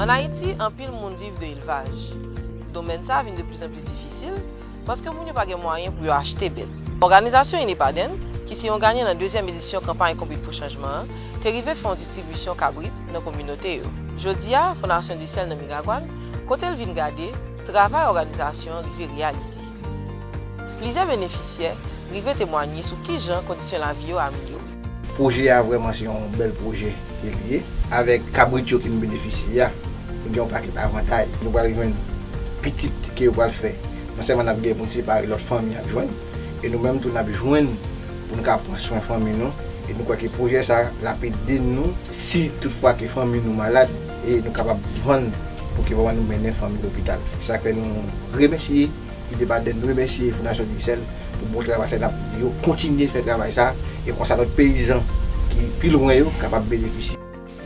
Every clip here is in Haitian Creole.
An Ayiti, anpil moun viv de elvaj. Domèn sa vin de pli zan pli difisil, paske moun yo pa gen mwayen pou yo achte bèt. Òganizasyon Inepaden, ki se yon ganyan nan dezyèm edisyon kanpay Konbit pou Chanjman an, te rive fè yon distribisyon kabrit nan kominote yo. Jodi a, Fondasyon Decel nan Miragwàn, kote l vin gade, travay òganizasyon an rive reyalize. Plizyè benefisyè rive temwanye sou kijan kondisyon lavi yo amilyore. Pwojè a vrèman se yon bèl pwojè ke li ye. Avèk kabrit yo ki vin benefisye a, nou gen yon pakèt avantay. Nou pral jwenn pitit ke yo pral fè. Non sèlman n ap gen pou n separe lòt fanmi ap jwenn, e nou menm tou n ap jwenn pou n ka pran swen fanmi nou. E nou kwè ke pwojè sa l ap ede nou si tout fwa ke fanmi nou malad e nou kapab vann pou ke vrèman nou mennen fanmi lopital. Se sa k fè nou remèsye. Li te pale n remèsye Fondasyon Diksèl pou bon travay sa lap di yo kontinye fè travay sa e konsa lòt peyizan ki pi lwen yo kapab benefisye.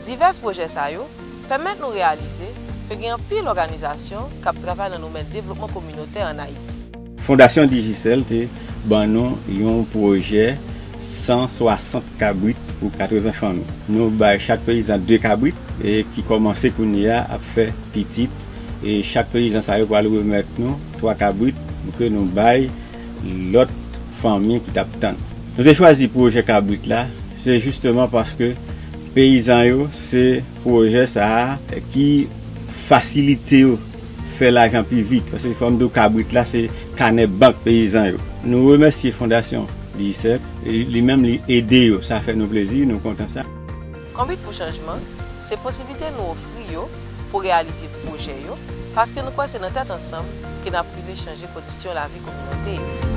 Divès pwojè sa yo pèmèt nou reyalize ke gen anpil òganizasyon kap travay nan domèn devlopman kominotè an Ayiti. Fondasyon Digicel te ban nou yon pwojè 160 kabrit pou 80 fanmi. Nou bay chak peyizan 2 kabrit e ki kòmanse kounye a ap fè pitit. E chak peyizan sa yo pral remèt nou 3 kabrit pou ke nou bay lòt fanmi ki t ap tann. Nou te chwazi pwojè kabrit la, se jisteman paske peyizan yo se pwojè sa a ki fasilite yo fè lajan pi vit. Paske fò m di w kabrit la se kanè bank peyizan yo. Nou remèsye Fondasyon Digicel, li menm li ede yo, sa fè nou plezi, nou kontan sa. Konbit pou Chanjman se posiblite nou ofri yo pou reyalize pwojè yo paske nou kwè se nan tèt ansanm ke n ap rive chanje kondisyon lavi kominote yo.